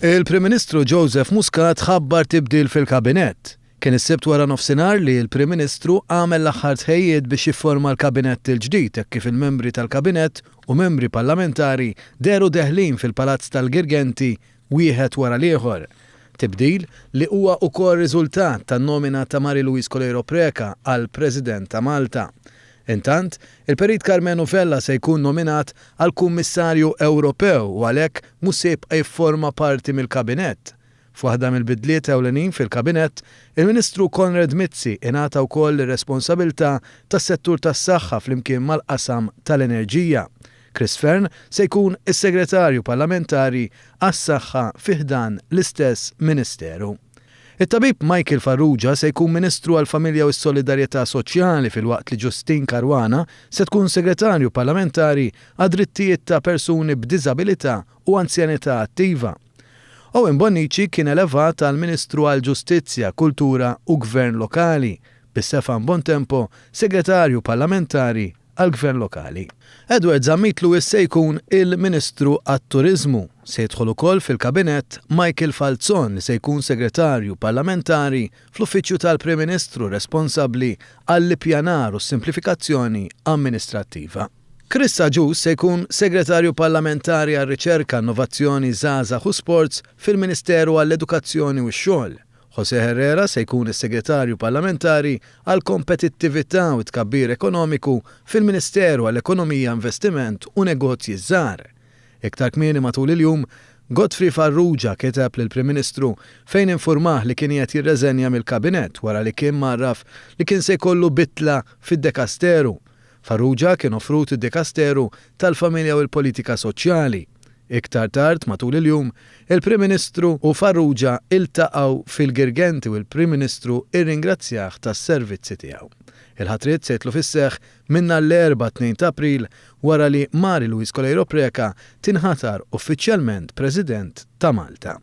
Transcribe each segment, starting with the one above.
Il-Prim Ministru Joseph Muscat ħabbar tibdil fil-Kabinett. Kien is-Sibt wara nofsinhar li l-Prim Ministru għamel l-aħħar tħejjijiet biex jifforma l-Kabinett il-ġdid hekk kif il-membri tal-Kabinett u membri Parlamentari dehru deħlin fil-Palazz tal-Girgenti wieħed wara l-ieħor. Tibdil li huwa wkoll riżultat tan-nomina ta' Marie Louise Coleiro Preca għal President ta' Malta. Intant, il-Perit Karmenu Vella se jkun nominat għal Kummissarju Ewropew u għalhekk mhux se jibqa' jifforma parti mill-Kabinett. F'waħda mill-bidliet ewlenin fil-Kabinett, il-Ministru Konrad Mizzi ingħata wkoll ir-responsabilità tas-settur tas-saħħa flimkien mal-qasam tal-enerġija. Chris Fearne se jkun is-Segretarju Parlamentari għas-Saħħa fi ħdan l-istess Ministeru. It-Tabib Michael Farrugia se jkun Ministru għall-Familja u s-Solidarjetà Soċjali filwaqt li Justyne Caruana se tkun Segretarju Parlamentari għad-Drittijiet ta' Persuni b'Diżabilità u Anzjanità Attiva. Owen Bonnici kien elevat għal Ministru għall-Ġustizzja, Kultura u Gvern Lokali, bi Stefan Bontempo Segretarju Parlamentari għall-Gvern Lokali. Edward Zammit Lewis se jkun il-Ministru għat-Turiżmu. Se jidħol ukoll fil-Kabinett Michael Falzon li se jkun Segretarju Parlamentari fl-Uffiċċju tal-Prim Ministru responsabbli għall-Ippjanar u s-Simplifikazzjoni Amministrattiva. Chris Agius se jkun Segretarju Parlamentari għar-Riċerka, Innovazzjoni, Żgħażagħ u Sports fil-Ministeru għall-Edukazzjoni u x-Xogħol José Herrera se jkun is-Segretarju Parlamentari għall-Kompetittività u t-Tkabbir Ekonomiku fil-Ministeru għall-Ekonomija, Investiment u Negozji Żgħar. Iktar kmieni matul il-jum, Godfrey Farrugia kiteb lill-Prim Ministru fejn infurmah li kien qiegħed jirreżenja mill-Kabinett wara li kien mgħarraf li kien se jkollu bidla fid-dekasteru Farrugia kien offrut id-Dikasteru tal-Familja u l-Politika Soċjali. Iktar tard matul il-jum, il-Prim Ministru u Farrugia iltaqgħu fil-Girgenti u l-Prim Ministru rringrazzjah tas-servizzi tiegħu. Il-ħatriet se jidħlu fis-seħħ minn nhar l-Erbgħa 2 ta' April wara li Mary Louise Coleiro Preca tinħatar uffiċjalment President ta' Malta.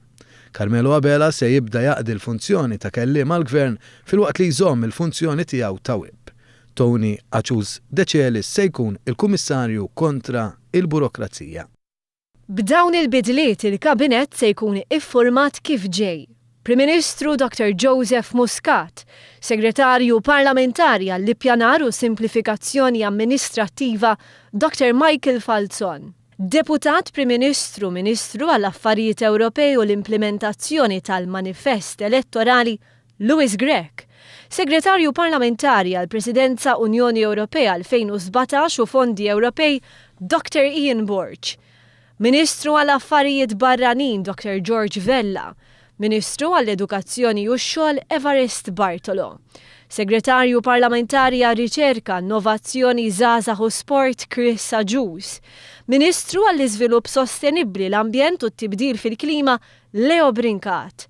Carmelo Abela se jibda jaqdi l-funzjoni ta' Kelliem għall-Gvern filwaqt li jżomm il-funzjoni tiegħu ta' Whip. Tony Acius De Celis se jkun il-Kummissarju kontra il-Burokrazija. B'dawn il-bidliet il-Kabinett se jkun iffurmat kif ġej, Prim Ministru Dr. Joseph Muscat, Segretarju Parlamentari għall-Ippjanar u Simplifikazzjoni Amministrattiva Dr. Michael Falzon, Deputat Prim Ministru Ministru għall-Affarijiet Ewropej u l-Implimentazzjoni tal-Manifest Elettorali Louis Grech, Segretarju Parlamentari għall-Presidenza Unjoni Ewropea 2017 u Fondi Ewropej, Dr. Ian Borg, Ministru għal Affarijiet Barranin Dr. George Vella, Ministru għall-Edukazzjoni u x-Xogħol Evarist Bartolo, Segretarju Parlamentari għar-Riċerka, Innovazzjoni, Żgħażagħ u Sport Chris Agius, Ministru għall-Iżvilupp Sostenibbli, l-Ambjent u t-Tibdil fil-Klima Leo Brincat,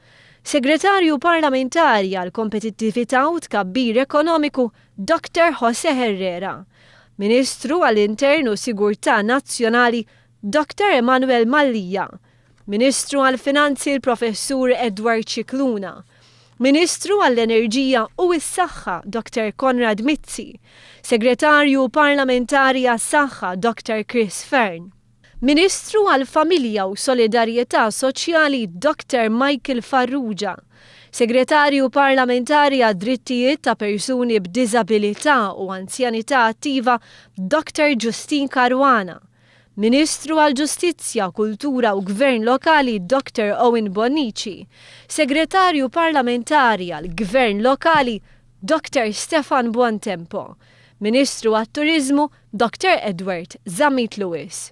Segretarju Parlamentari għall-Kompetittività u Tkabbir Ekonomiku, Doctor José Herrera, Ministru għall-Intern u Sigurtà Nazzjonali, Doctor Emmanuel Mallia, Ministru għall-Finanzi l-Professur Edward Scicluna, Ministru għall-Enerġija u s-Saħħa Doctor Konrad Mizzi, Segretarju Parlamentari għas-Saħħa Doctor Chris Fearne. Ministru għall-Familja u Solidarjetà Soċjali Doctor Michael Farrugia, Segretarju Parlamentari għad-Drittijiet ta' Persuni b'Diżabilità u Anzjanità Attiva Doctor Justyne Caruana, Ministru għall-Ġustizzja, Kultura u Gvern Lokali Doctor Owen Bonnici, Segretarju Parlamentari għall-Gvern Lokali Doctor Stefan Buontempo, Ministru għat-Turiżmu Doctor Edward Zammit Lewis.